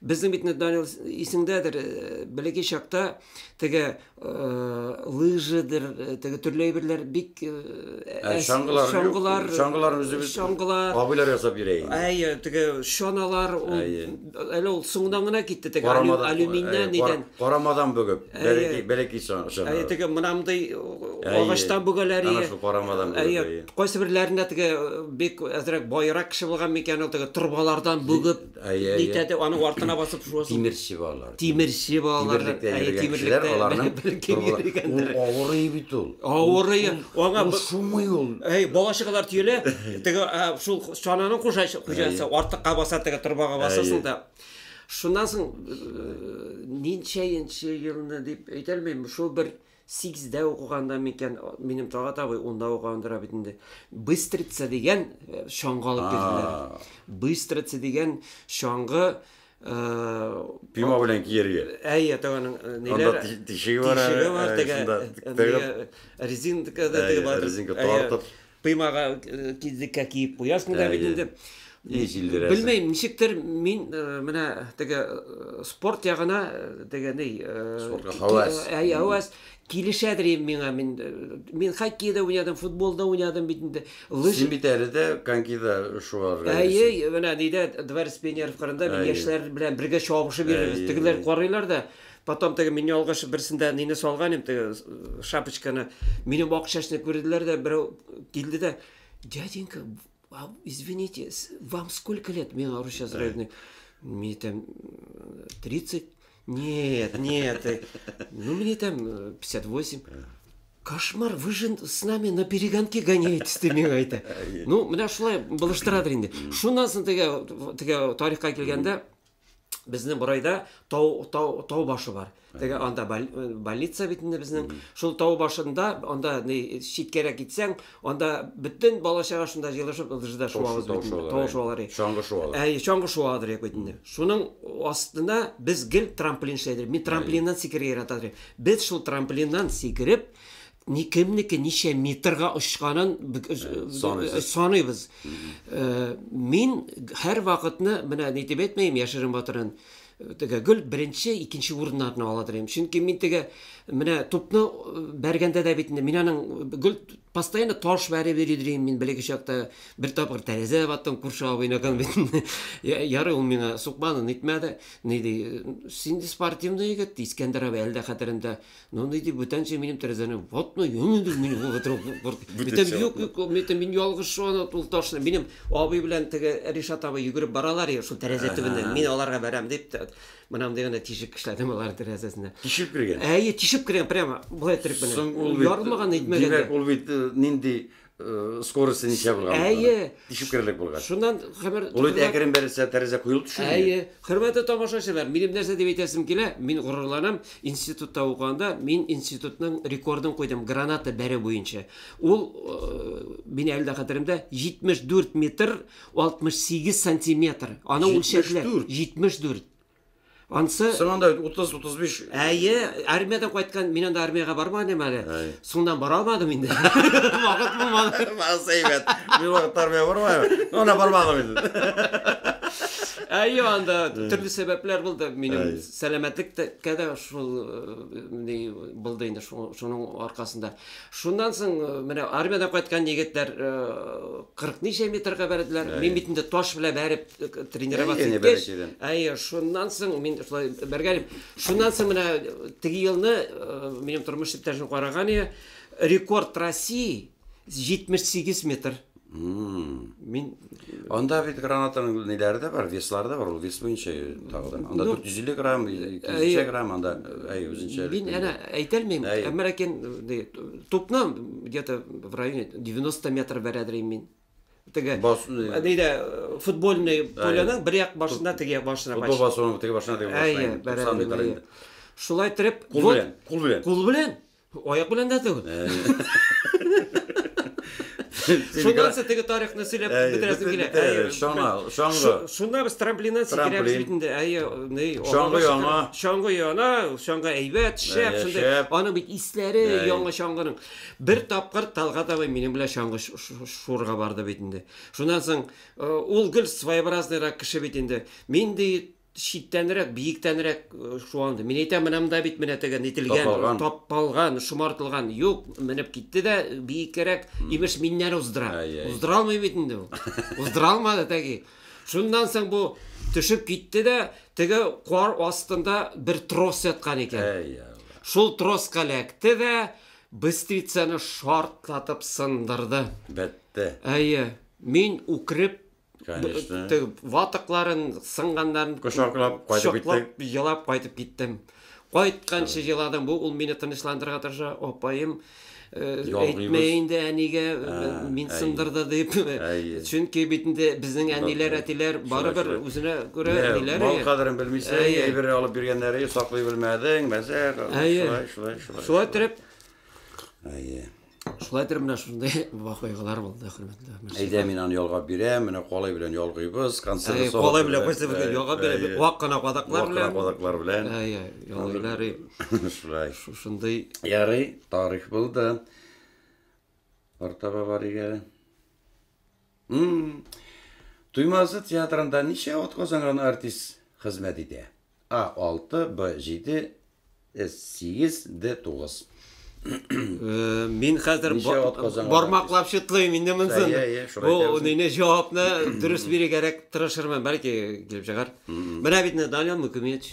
Безнең бит Данил исеңдәдер, э, бәләкәй чакта теге э, лыжыдыр, э, теге төрле әйберләр бик ә, чаңгылар, чаңгылар, чаңгылар үзебез чаңгылар абыйлар ясап бирә инде. Әйе, теге чаналар ул әле ул соңдан гына китте теге алюминнан нидән. Карамадан бөгеп, бәләкәй бәләкәй чаңгылар. Әйе, теге мынамдый агачтан бөгәләр. Әйе, шул карамадан бөгеп. Әйе, кайсы берләрендә теге бик әзрәк байрак кеше булган микән ул теге торбалардан бөгеп. Әйе, аны артына басып шуасы. Тимерче балалар. Тимерче балалар. Әйе, тимерлектә аларның килгәндер. Авырый бит ул. Авырый. Аңа шумый ул. Әй, балачыклар тиелә. Теге шул чананың кушачы, кушачы артыкка баса, теге торбага басасың да. Шуннан соң ничәенче елны дип әйтә алмыйм, шул бер Сигездә укыганда микән, минем Талгат абый унда укыгандыр бит инде. Быстрица дигән э, чаңгы алып килделәр. Быстрица дигән чаңгы Э, пима белән киерге әйе тәганың э, ниләр тишеге бар тишеге бар теге резинка да теге бар резинка тартып Коймага кидлеккә киеп куясың да бит инде. И җилдерәсең. Белмәйм, ничектер мин менә теге спорт ягына теге ни спортка хавас. Әй, хавас килешәдер инде миңа. Мин мин хоккей да уйнадым, футбол да уйнадым бит инде. Лыж. Син бит әле дә конькида шуарга. Әй, менә нидә дворец пионеров кырында мин яшьләр белән бергә чабышып йөрибез. Тегеләр карыйлар да Потом теге мин ялгыш берсендә нине салган идем, теге э, шапочканы. Минем ак чәчне күрделәр дә, берәү килде дә, "Дяденька, а, извините, с- вам сколько лет?" Мин русча зрелный. Мне там э, 30. Нет, нет. э, Ну, мне там э, 58. Кошмар, вы же с нами на перегонки гоняетесь, ты миңа әйтә. Ну, менә шулай булыштырадыр инде. Шуннан соң теге теге тарихка килгәндә, Безнең Борайда тау, тау, тау башы бар. Теге анда э, больница бит инде безнең. Шул тау башында, анда читкәрәк китсәң, анда бөтен бала чага шунда җыелышып ылжыда шуабыз бит. Тау шуалары. Чаңгы шуалары. Әй, чаңгы шуалары дип бит инде. Шуның астына без гел трамплин шәйдер. Мин трамплиннан сикерә яратадыр. Без шул трамплиннан сикереп ни кемнеке ничә метрга очканын саныйбыз мин һәр вакытны менә ни дип әйтмим яшерен батырын теге гөл беренче икенче урыннарны ала дим чөнки мин теге менә тупны бәргәндә дә бит мин аның гөл постоянно таш бәреп йөри дим мин белеге чакта бер тапкыр тәрәзә баттым күрше абыйныкын бит ярый ул миңа сукмады нитмәде ни ди син спортивный егет ди искәндәр абый әле дә хәтеремдә Ну, ну, иди, бүтән че минем тәрәзәне ватны, юнды, мин бу гытру курт. Бүтән юк, юк, мин тем мин ялгыш шуны ул ташны. Минем абый белән теге Ришат абый йөгереп баралар я шул тәрәзә төбеннән. Мин аларга барам дип, мынам дигәндә тишек эшләдем алар тәрәзәсенә. Тишеп кергән. Әйе, тишеп кергән прямо. Булай торып менә. Ярылмаган итмәгән. Димәк, ул бит нинди Э, скорости ничә булган? Әйе. Тишеп керерлек булган. Шуннан хәбәр Булыт әкрен бәрелсә, тәрәзә куелып төшәме? Әйе. Хөрмәтле тамашачылар, минем нәрсә дип әйтәсем килә? Мин горурланам. Институтта укыганда мин институтның рекордын куйдым граната бәре буенча. Ул э, мин әле дә хәтеремдә 74 метр 68 сантиметр. Аны үлчәделәр. 74. Ансы Син анда 30-35 Әйе, армиядән кайткан, мин анда армиягә бармаган идем әле. Әй. Соңдан бара алмадым инде. Вакыт булмады. Мас әйбәт. Мин вакыт армия бармадым. Ана бармадым инде. Әйе, анда төрле сәбәпләр булды. Минем Әй. сәламәтлеккә дә шул э, ни булды инде шуның аркасында. Шуннан соң э, менә армиядән кайткан егетләр 40 э, ничә метрга бәрделәр. Мин бит инде таш белән бәреп э, тренироваться иткәч, әйе, шуннан соң мин шулай бәргәнем. Шуннан соң менә теге елны минем тормыш иптәшем караган ие, рекорд России 78 метр. Мин анда бит гранатаның ниләре дә бар, веслары да бар, ул вес буенча тагы Анда 450 грамм, 200 грамм, анда әй үзенчә. Мин әнә әйтәлмим, әмма ләкин тупны где-то в районе 90 метр бәрәдерим мин. Теге әдәйдә футбольный поляның бер як башына теге як башына. Футбол басуның теге башына теге башына. Әй, бәрәдерим. Шулай итеп, кул белән, кул белән. Кул белән. Аяк белән дә түгел. Шуннан соң теге тарихны сөйләп бетерәсең килә. Әйе, шаңа, шаңгы. Шунда без трамплиннан сикерәбез бит инде. Әйе, ни, шаңгы яна. Шаңгы яна, шаңгы әйбәт, шәп, шундый. Аның бит исләре яңа шаңгының. Бер тапкыр Талгат абый минем белән шаңгы шурга барды бит инде. Шуннан соң ул гел своеобразныйрак кеше бит инде. Мин ди читтәнрәк, биектәнрәк э, шуанды. Мин әйтәм, менә монда бит менә теге нителгән, Тапалган. тапалган, шомартылган. Юк, менеп китте дә биеккәрәк, имеш миннән уздыра. Ай, ай. Уздыра алмый бит инде ул. Уздыра алмады тәги. Шуннан соң бу төшеп китте дә, теге кар астында бер трос яткан икән. Әй, Алла. Шул троска эләкте дә быстрицаны шартлатып сындырды. Бәтте. Әйе, мин үкреп Конечно. Теге ватыкларын, сынганнарын кочаклап кайтып киттем. Елап кайтып киттем. Кайтканчы еладым. Бу ул мине тынычландырырга тырыша. Апаем э, әйтмә инде әнигә, э, мин сындырды дип. Чөнки бит инде безнең әниләр, әтиләр барыбер үзенә күрә әниләр. Мал кадерен белмисең, әйбер алып биргәннәре саклый белмәдең, мәзәк. Шулай, шулай, шулай. Шулай торып. Әйе. Шулай итеп менә шундый вакыйгалар булды, хөрмәтле Мирсәет. Әйдә, мин аны ялгап бирәм, менә калай белән ялгыйбыз, консервы салат. Калай белән кайсы бер ялгап бирәм, вак кына кадаклар белән. Вак кына кадаклар белән. Әй, ялгыйлар. Шулай. Шушындый. Ярый, тарих булды. Артаба барыйк әле. Туймазы театрында ничә атказанган артист хезмәт итә? А. 6, Б. 7, С. 8, Д. 9. Мин хәзер бармаклап чытлыйм инде монсын. Бу нинди җавапны дөрес бирергә тырышырмын, бәлки килеп чыгар. Менә бит Данил Мукимич.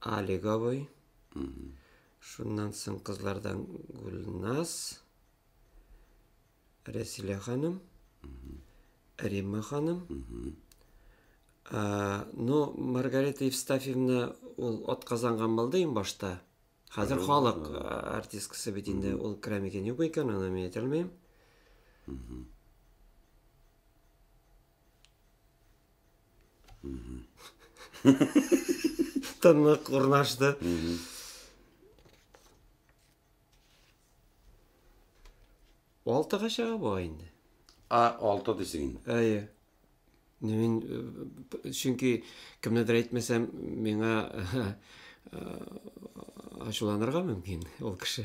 Алиговый. Шуннан соң кызлардан Гүлназ, Рәсилә ханым, Римма ханым. Ну, Маргарита Евстафьевна ул отказанган булды иң башта. Хәзер халык артисткасы бит инде, ул керә микән юк икән, аны мин әйтә алмыйм. Тынлык урнашты. Алтыга чыга бу инде. А, алты дисең инде. Әйе. Мин э, чөнки кемнедер әйтмәсәм, миңа э, ачуланырга мөмкин ул кеше.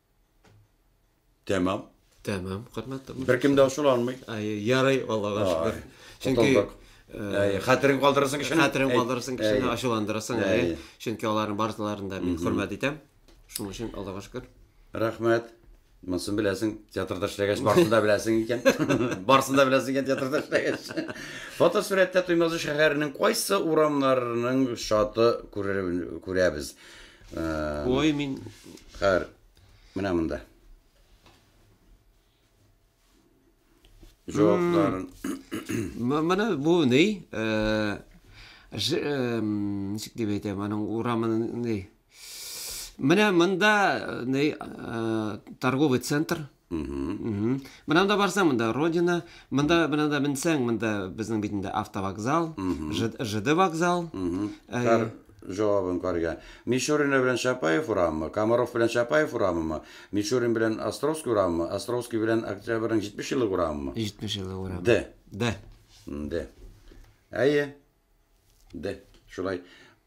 Тәмам. Тәмам, хөрмәтле музыкант. Беркем дә ачыла алмый. Ай, ярый, Аллага шөкер. Чөнки э, хәтерен калдырасың кешене. Хәтерен калдырасың кешене, ачуландырасың, әй. Чөнки аларның барсыларын да мин хөрмәт итәм. Шуның өчен Аллага шөкер. Рәхмәт. Монысын беләсең, театрда эшләгәч, барсын да беләсең икән. Барсын да беләсең икән театрда эшләгәч. Фотосурәттә Туймазы шәһәренең кайсы урамнарының шаты күрәбез? Ой, мин... Хәр, менә монда. Җавапларын. Менә бу ни? Э, э, ничек дип әйтәм, аның урамын ни? Менә монда э, ни торговый центр Мына да барсаң, монда Родина, монда мына да менсәң, монда безнең бит инде автовокзал, ЖД вокзал. Кар җавабын карга. Мишурин белән Чапаев урамы, Комаров белән Чапаев урамы, Мишурин белән Островский урамы, Островский белән Октябрьнең 70 еллык урамы. 70 еллык урамы. Д. Д. Д. Әйе. Дә, шулай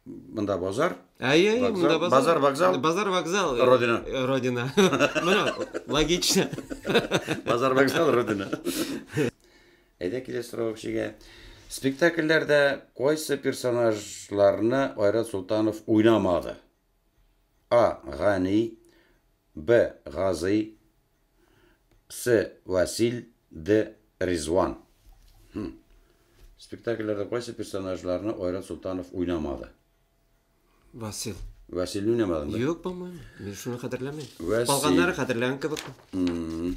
монда базар. Әйе, әйе, монда базар. Базар, вокзал. Базар, вокзал. Родина. Э, родина. Менә логично. Базар, вокзал, родина. Әйдә киләс сорау кешегә. Спектакльләрдә кайсы персонажларны Айрат Султанов уйнамады? А. Гани, Б. Гази, Псе Василь де Ризван. Хм. Спектакльләрдә кайсы персонажларны Айрат Солтанов уйнамады? Васил. Василь уйнамадың да? Юк, по-моему. Мин шуны хәтерләмим. Вәсил. Калганнары хәтерләгән кебек. М-м.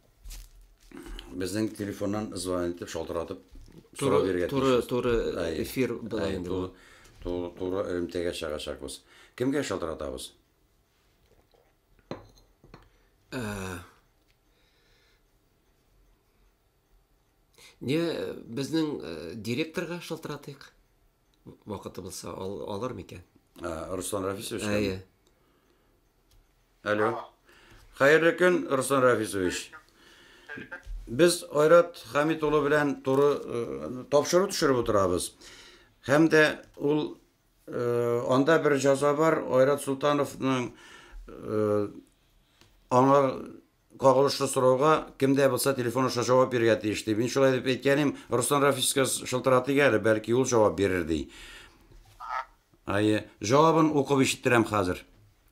Безнең телефоннан звонок итеп, шалтыратып сорау бирергә Туры, туры эфир була инде бу. Туры, туры элемтәгә чыгачакбыз. Кемгә шалтыратабыз? Ә... Не, безнең э, директорга шалтыратыйк. Вакыты булса, ал, алар микән? Ә, Руслан Рафисович. Әйе. Алло. Алло. Хәерле көн, Руслан Рафисович. Без Айрат Хамит улы белән туры э, тапшыру төшереп утырабыз. Һәм дә ул э, анда бер җаза бар, Айрат Султановның э, аңа кагылышлы сорауга кемдә булса телефон аша җавап бирергә тиеш ди. Мин шулай дип әйткәнем, Руслан Рафисовичка шылтыратыйк әле, бәлки ул җавап бирер ди. Ае, җавабын укып ишеттерәм хәзер.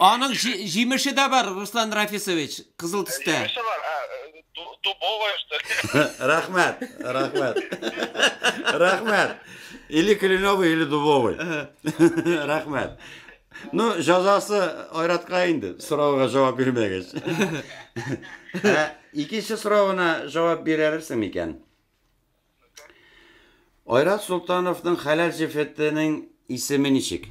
Аның җимеше дә бар, Руслан Рафисович, кызыл төстә. Җимеше бар, ә, дубовая, что ли? Рәхмәт, рәхмәт. Рәхмәт. Или кленовый, или дубовый. Рәхмәт. Ну, жазасы айратка инде, сорауга жавап бирмәгәч. Ә икенче соравына жавап бирерсең микән? Айрат Солтановның хәләл җефетенең исеме ничек?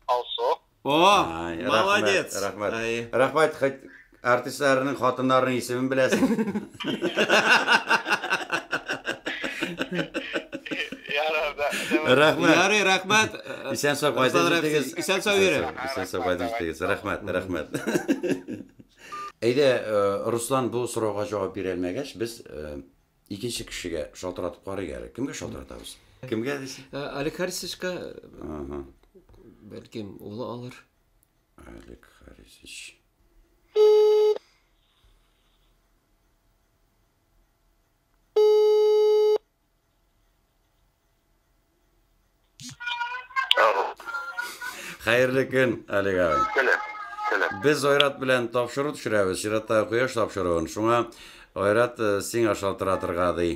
Алсу. О, Ай, молодец. Рәхмәт. Ай. Рәхмәт. Хәт- Артистларның хатыннарының исемен беләсең. Ярар, да. да- Рәхмәт. Ярый, рәхмәт. Исән сау кайтып Руслан Рәхмәт. җитегез. Исән сау йөрегез. Исән сау- Исән сау кайтып җитегез. Рәхмәт, рәхмәт. Әйдә, э, Руслан бу сорауга җавап бирә алмәгәч, без э, Икенче кешегә шалтыратып карыйк әле. Кемгә шалтыратабыз? Кемгә дисең? Ә, Олег Харисовичка, Ага. бәлкем, улы алыр. Олег Харисович. Хәерле көн, Олег абый. Теле. Теле. Без Айрат белән тапшыру төшерәбез, чиратта кояш тапшыруын. Шуңа Айрат э, сиңа шалтыратырга ди.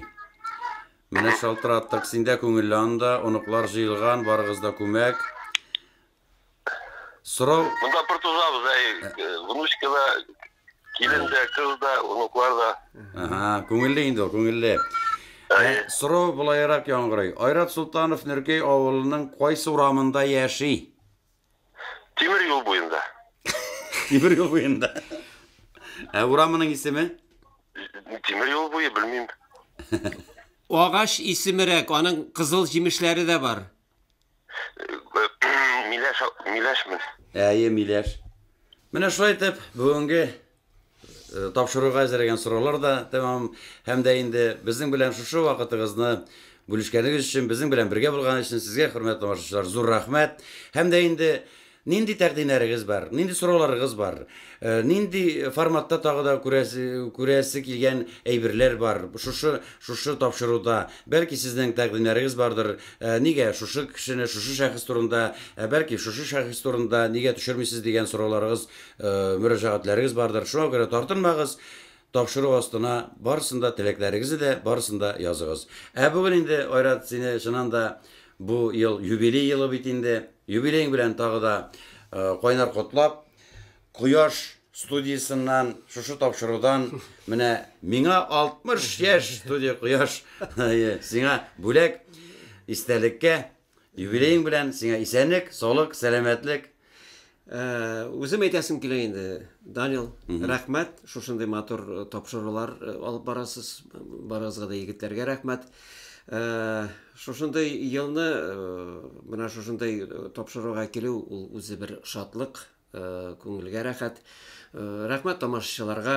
Менә шалтыраттык, синдә күңелле анда, оныклар җыелган, барыгыз да күмәк. Сорау... Монда бер тузабыз, әй, ә. э, внучка да, килен дә, кыз да, внуклар да. Ага, күңелле инде ул, күңелле. Ә, ә сорау былайрак яңгырый. Айрат Султанов Нөркәй авылының кайсы урамында яши? Тимер юл буенда. Тимер юл буенда. Ә урамының исеме? Тимер юл буе, белмим. Агач исемерәк, аның кызыл җимешләре дә бар. Миләш, миләшме? Әйе, миләш. Менә шулай итеп, бүгенге э, тапшыруга әзерләгән сораулар да тәмам һәм дә инде безнең белән шушы вакытыгызны бүлешкәнегез өчен, безнең белән бергә булган өчен сезгә, хөрмәтле тамашачылар, зур рәхмәт. Һәм дә инде Нинди тәкъдимнәрегез бар? Нинди сорауларыгыз бар? Нинди форматта тагы да күрәсе, күрәсе килгән әйберләр бар? Шушы, шушы тапшыруда, бәлки сезнең тәкъдимнәрегез бардыр, нигә шушы кешене, шушы шәхес турында, ә бәлки шушы шәхес турында нигә төшермисез дигән сорауларыгыз, мөрәҗәгатьләрегез бардыр. Шуңа күрә тартынмагыз, Тапшыру астына барысын да теләкләрегезне дә барысын да языгыз. Ә бүген инде, Айрат, сине чыннан да бу ел юбилей елы бит инде. Юбилеең белән тагы да кайнар котлап, Кояш студиясеннән, шушы тапшырудан менә миңа 60 яшь, студия Кояш сиңа бүләк, истәлеккә. Юбилеең белән, сиңа исәнлек, саулык, сәламәтлек. Үзем әйтәсем килә инде, Данил, рәхмәт, шушындый матур тапшырулар алып барасыз, барыгызга да егетләргә рәхмәт. Шушындый елны, менә шушындый тапшыруга килү, ул үзе бер шатлык, күңелгә рәхәт. Рәхмәт тамашачыларга.